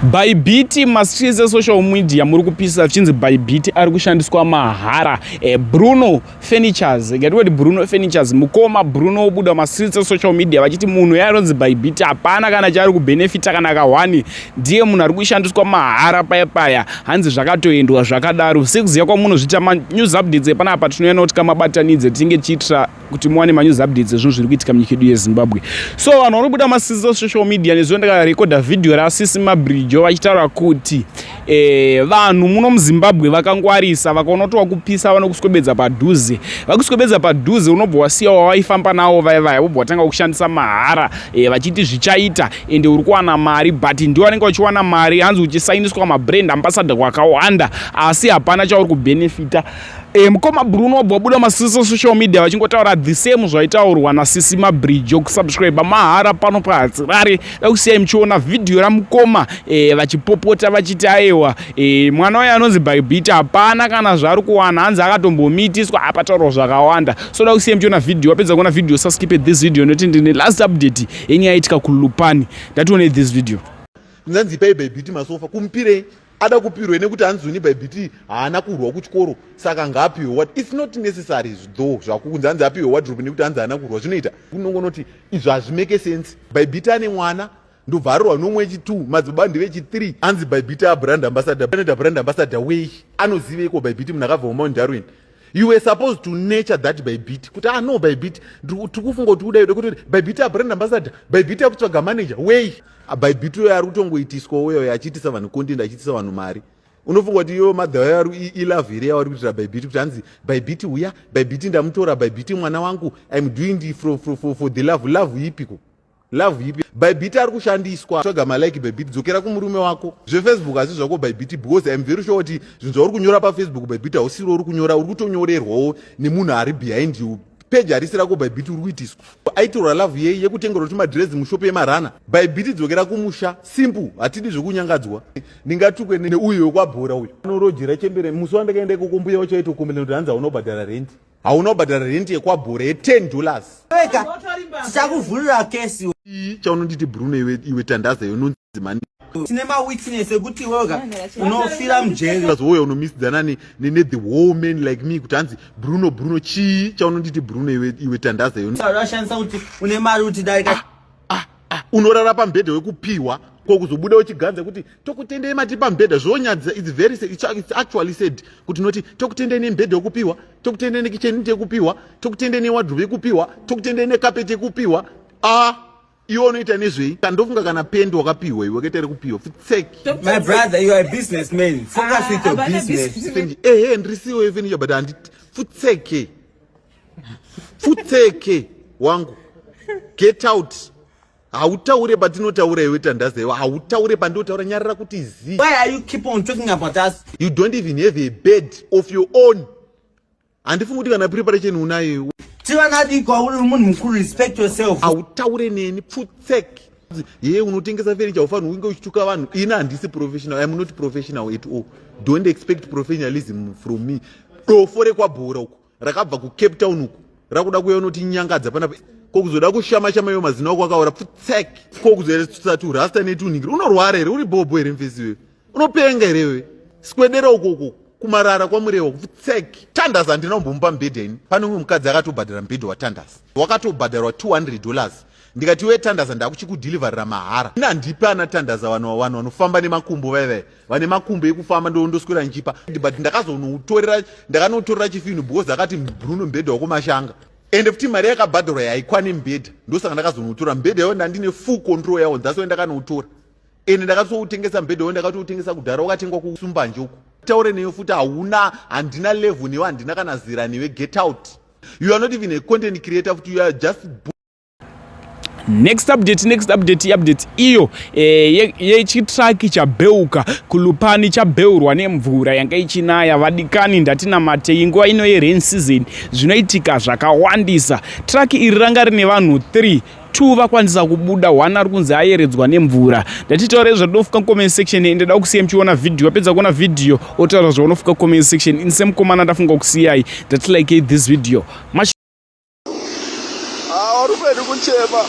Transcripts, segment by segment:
Bybit masise social media muri kupisa zvichinzi Bybit ari kushandiswa mahara e, Bruno Furnitures ngati kuti Bruno Furnitures mukoma Bruno obuda masise social media vachiti munhu yaanonzi Bybit hapana kana chaari kubenefita kana kahwani ndiye munhu ari kushandiswa mahara paya paya hanzi zvakatoendwa zvakadaro sekuziva kwamunozviita manews updates epanapa tinoyana kuti kamabatanidze tinenge tichiitira kuti muwane manews updates ezvinhu zviri kuitika munyika yedu yezimbabwe so vanhu vari kubuda masocial media nezuva ndakarekodha vhidhiyo rasisi mabrijo vachitaura kuti eh, vanhu muno muzimbabwe vakangwarisa vakaona kuti wakupisa vanokuswebedza padhuze vakuswebedza padhuze unobva wasiya wavaifamba nawo vaye vaya vobva watanga kushandisa mahara eh, vachiti zvichaita ende uri kuwana mari but ndiwo vanenge vachiwana mari hanzi uchisainiswa mabrand ambassador kwakawanda asi hapana chauri kubenefita E, mukoma bruno wabva wabuda masisi social media vachingotaura the same zvaitaurwa nasisi mabridge okusubscribe mahara pano pahadzirare dakusiyai muchiona vhidhiyo ramukoma e, vachipopota vachiti aewa e, mwana uye anonzi bybita hapana kana zvaari kuwana hanzi akatombomitiswa apataurwa zvakawanda so dakusiyai muchiona vhidhiyo wapedza kuona vhidhiyo saskipe this video noti ndine last update yenyaya yaitika kulupani ndatione this video nzanzi pai bybiti masofa kumpirei ada kupirwe nekuti hanzi uni by bt haana kurwa kuchikoro saka ngaapiwe what its not necessary though zvakukunzi hanzi apiwe wadrop nekuti hanzi haana kurwa zvinoita unongonoti izvo hazvimeke sense by bt ane mwana ndobva arorwa nomwe echi2 madzibaba ndive echi3 anzi by bt abrand ambassador anoita brand ambassador wei anoziveiko by bt munhu akabva mumount darwin you were supposed to nature that bybit kuti ah no bybit tiri kufunga kuti uda yuda kuti bybit abrand ambassador bybit akutsvaga manager wei ah, bybit uyo ari kutongoitiswa uyo achiitisa vanhu content achiitisa vanhu mari unofunga kuti iyo madhava yaro ilove here yavari kuitira bybit kuti hanzi bybit uya bybit ndamutora bybit mwana wangu im doing for, for, for, for the love love ipiko love ipi bybit ari kushandiswa tsvaga malike bybit dzokera kumurume wako zvefacebook asi zvako bybit because im very sure kuti zvinhu zvauri kunyora pafacebook bybit hausiro uri kunyora uri kutonyorerwawo nemunhu ari behind you peji harisi rako bybit uri kuitiswa aitorwa love yei yekutengerwa kuti madhirezi mushopi yemarana bybit dzokera kumusha simple hatidi zvekunyangadzwa ndingatukwe neuyo wekwabhora uyo anorojera chembere musi wandakaenda ikoko mbuya wachaitokombelena kuti hanzi haunobhadhara rendi hauna kubhadhara rent yekwabhore ye10 dollars weka tichakuvhurira kesi chaunonditi bruno iwe, iwe tandaza yononzi mani tine mawitness ekuti iweka unofira mujeri azouya unomisidzana ne, ne, ne the whole man like me kuti hanzi bruno bruno chii chaunonditi bruno iwe, iwe tandaza yononzi ashandisa kuti une mari kuti dai ka- ah, unorara pambhedha wekupihwa ko kuzobuda uchiganza kuti tokutendei mati pambhedha zvonyadzisa its very it's actually said kuti noti tokutendei nembhedha yekupihwa tokutendei nekicheniti yekupihwa tokutendei newadrobe yekupihwa tokutendei nekapeti yekupihwa ah iwe unoita nezvei kandofunga kana pendi wakapihwa iwe kete rekupiwa futseke ehe ndrisiwo yefenisha but handiti futseke Futseke wangu. Get out. Hautaure patinotaura iwe tandaza iwe. Hautaure pandinotaura nyarara kuti zi. Why are you keep on talking about us? You don't even have a bed of your own. Handifungi kuti kana preparation unayo. Tivana diko uri munhu mukuru respect yourself. Hautaure neni futseke. Yeye unotengesa furniture ufanhu unge uchituka vanhu. Ini handisi professional. I am not professional at all. Don't expect professionalism from me. Dofo rekwabhora uko. rakabva kucape town uku rakuda kuya unotinyangadza panapa ko kuzoda kushama shama iwe mazina ako akaora pfutsek ko kuzoeretsa turasta netunhingiri unorwara here uri bhobho here mfesi iwe unopenga here iwe sikwedera ukoko kumarara kwamurewa kupfutsek tandas handina kumbomupa mubhedhi yaini pane umwe mukadzi akatobhadhara mubhedhi watandas wakatobhadharwa 200 dollars ndikati iwe tandas ndakuchikudhilivarira mahara ini handipi ana tandas vanhu vanhu vanofamba nemakumbo vaivai vane makumbo ekufamba ndondoswera ndichipa but ndakazonoutorera ndakanotorera chifinhu because akati bruno mbhedha wakumashanga ende futi mari yakabhadharwa yaikwane mbhedha ndosaka ndakazonoutora mbhedha yawo ndandine full control yawo that's why ndakanoutora ende ndakatoutengesa mbhedha wawo ndakatoutengesa kudhara wakatengwa kusumbanje uko taure neyo futi hauna handina level newe handina kana zera newe get out you are not even a content creator futi you are just next update next update iupdate iyo eh, yechitraki ye chabheuka kulupani chabheurwa nemvura yanga ichinaya vadikani ndatinamatei nguva ino yerain season zvinoitika zvakawandisa traki iri ranga rine vanhu 3 two vakwanisa kubuda one ari kunzi ayeredzwa nemvura ndatitaura izvo ndinofuka comment section ende da kusiya muchiona vhidhiyo wapedza kuona vhidhiyo otaura zvaunofuka comment section ini semukomana ndafunga kusiyai ndati likei this video Mash awarupedi ah, kunchema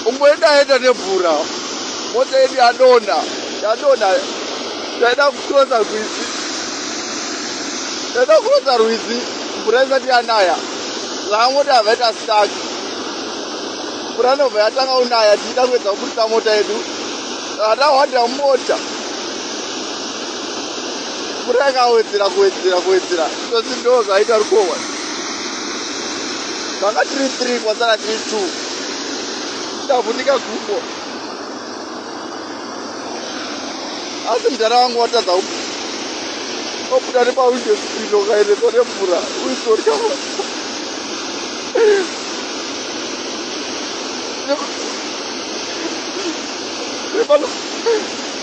umboendaenda nemvura mota yedu yadonha yadonha yaida kucrosa rwizi yaida kucrosa rwizi mvura isati yanaya saka mota yabva ita stak mvura inobva yatanga kunaya tichida kuedza kuburitsa mota yedu atahwadira mota mvura yakawedzera kuwedzera kuwedzera tozi ndo zvaita rukohwa vanga tiri three kwasara tiri two ndavhunika gumbo asi mudhara wangu watadza ku obuda nepawindo spino kaendesa nemvura uisorya Thank you.